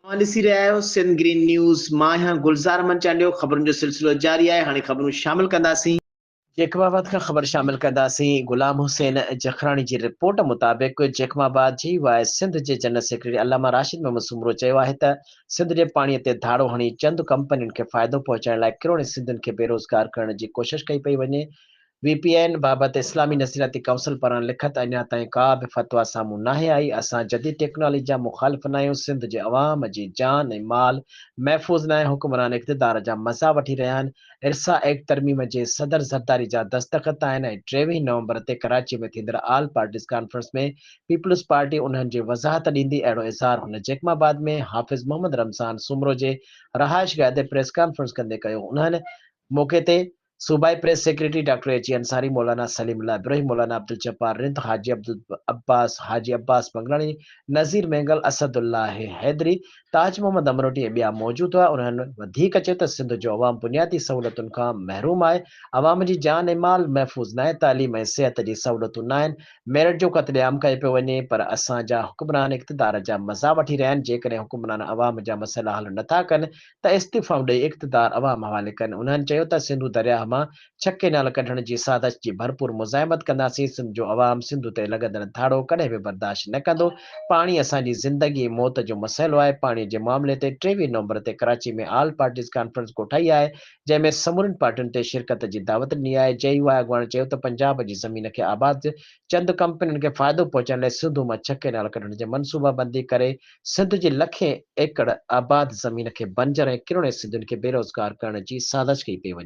اوهان ڏسي رهيا آهيو سنڌ گرين نيوز مان آهيان گلزار احمد چانڊيو خبرن جو سلسلو جاري آهي هاڻي خبرون شامل ڪنداسين. جيڪب آباد کان خبر شامل ڪنداسين غلام حسين جکراڻي جي رپورٽ مطابق جيڪب آباد جي واء سنڌ جي جنرل سيڪريٽري علامه راشد محمد سومرو چيو آهي ته سنڌ جي پاڻي تي ڌاڙو هڻي چند ڪمپنين کي فائدو پهچائڻ لاء ڪروڙين سنڌين کي بيروزگار ڪرڻ جي ڪوشش ڪئي پئي وڃي وي پي اين بابت اسلامي نظرياتي ڪائونسل پاران لکت اڃا تائين ڪا به فتويٰ سامهون ناهي آئي، اسان جديد ٽيڪنالاجي جا مخالف ناهيون، سنڌ جي عوام جي جان ۽ مال محفوظ ناهي، حڪمران اقتدار جا مزا وٺي رهيا آهن، ارسا ايڪٽ ترميم جي صدر زرداري جا دستخط آهن ۽ ٽيويهين نومبر تي ڪراچي ۾ ٿيندڙ all parties conference ۾ Peoples Party انهن جي وضاحت ڏيندي اهڙو اظهار هن جيڪب آباد ۾ حافظ محمد رمضان سومرو جي رهائشگاهه تي پريس ڪانفرنس ڪندي ڪيو انهن موقعي تي صوبائي press secretary doctor H A Ansari, مولانا سليم الله ابروهي، مولانا عبدالجبار رند، حاجي عبدالعباس، حاجي عباس بنگلاڻي، نذير مينگل، اسدالله حيدري، تاج محمد امروٽي ۽ ٻيا موجود هئا. انهن وڌيڪ چيو ته سنڌ جو عوام بنيادي سهولتن کان محروم آهي، عوام جي جان ۽ مال محفوظ ناهي، تعليم ۽ صحت جي سهولتون ناهن، ميرٽ جو قتل عام ڪيو پيو وڃي پر اسان جا حڪمران اقتدار جا مزا وٺي رهيا آهن، جيڪڏهن حڪمران عوام جا مسئلا حل نٿا ڪن ته استعفائون ڏئي اقتدار عوام حوالي ڪن، انهن چيو ته سنڌو درياهه مان ڇهه ڪئنال ڪڍڻ جي سازش جي ڀرپور مزاحمت ڪنداسين، سنڌ جو عوام سنڌو تي لڳندڙ ڌاڙو ڪڏهن به برداشت نه ڪندو، پاڻي اسان جي زندگي ۽ موت جو مسئلو آهي، پاڻي جي معاملي تي ٽيويهه نومبر تي ڪراچي ۾ آل پارٽيز ڪانفرنس ڪوٺائي آهي، جنهن ۾ سمورين پارٽين تي شرڪت جي دعوت ڏني آهي، جي يو آء اڳواڻ چيو ته پنجاب جي زمين کي آباد چند ڪمپنين کي فائدو پهچائڻ لاء سنڌو مان ڇهه ڪئنال ڪڍڻ جي منصوبابندي ڪري، سنڌ جي لکين ايڪڙ آباد زمين کي بنجر ۽ ڪروڙين سنڌين کي بيروزگار ڪرڻ جي سازش ڪئي پئي وڃي.